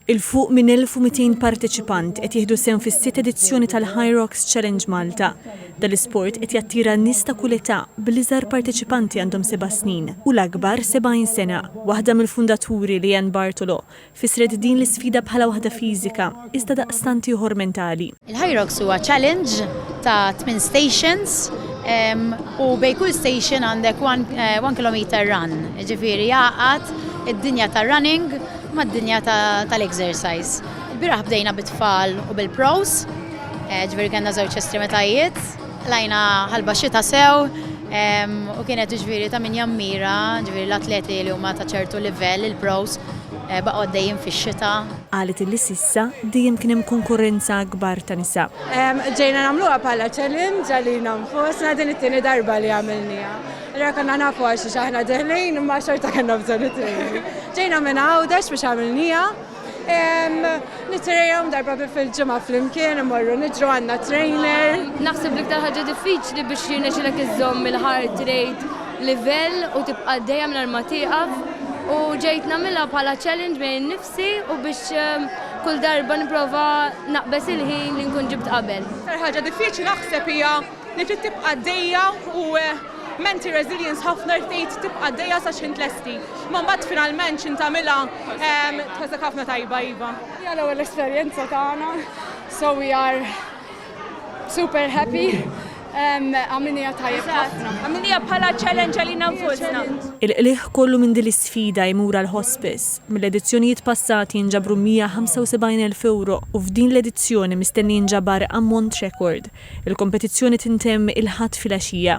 'Il fuq minn 1,200 parteċipant qed jieħdu sehem fis-sitt edizzjoni tal-HYROX Challenge Malta. Dan l-isport qed jattira nies ta' kull età, bl-iżgħar parteċipanti għandhom seba' snin u l-akbar 70 sena. Waħda mill-fundaturi, Leanne Bartolo, fissret din l-isfida bħala waħda fiżika, iżda daqstant ieħor mentali. Il-HYROX huwa challenge ta' tmien stations u bejn kull station għandek one kilometer run, jiġifieri jgħaqqad id-dinja tar-running mad-dinja tal-exercise. Il-bieraħ bdejna bit-tfal u bil-pros, jiġifieri kellna żewġ estremitajiet. Tlajna ħalba xita sew u kienet ġviri ta' min jammira, ġviri l-atleti li huma ta' ċertu livell, il-pros, eh, baqgħu għaddejjin fix-xita. Qalet li s'issa dejjem kien hemm konkurrenza akbar ta' nisa. Ġejna nagħmluha bħala challenge għalina nfusna, din it-tieni darba li għamilniha. Allura konna nafu għal xiex aħna deħlin imma xorta kellna bżonn it-training. Ġejna minn Għawdex biex għamilniha. Nittrejnaw darba bi fil-ġimgħa flimkien, imorru niġru għandna trainer. Naħseb li iktar ħaġa diffiċli biex jirnexxilek iżżomm il-heart rate livell u tibqa' dejjem mingħajr ma tieqaf u ġejt nagħmilha bħala challenge bejn innifsi u biex ehm, kull darba nipprova naqbeż il-ħin li nkun ġibt qabel. L-iktar ħaġa diffiċli naħseb hija Li trid tibqa' għaddejja u menti resilience ħafna tgħid tibqa' għaddejja sa x'ħin tlesti. Imma mbagħad finalment x'ħin tagħmilha tħossek ħafna tajba iva. Hija l-ewwel esperjenza tagħna so we are super happy. Għamilniha tajjeb ħafna. Għamilniha bħala challenge għalina nfusna. Il-qligħ kollu minn din l-isfida jmur għall-Hospice. Mill-edizzjonijiet passati jinġabru 175,000 ewro u f'din l-edizzjoni mistenni jinġabar ammont rekord. Il-kompetizzjoni tintemm il-Ħadd filgħaxija.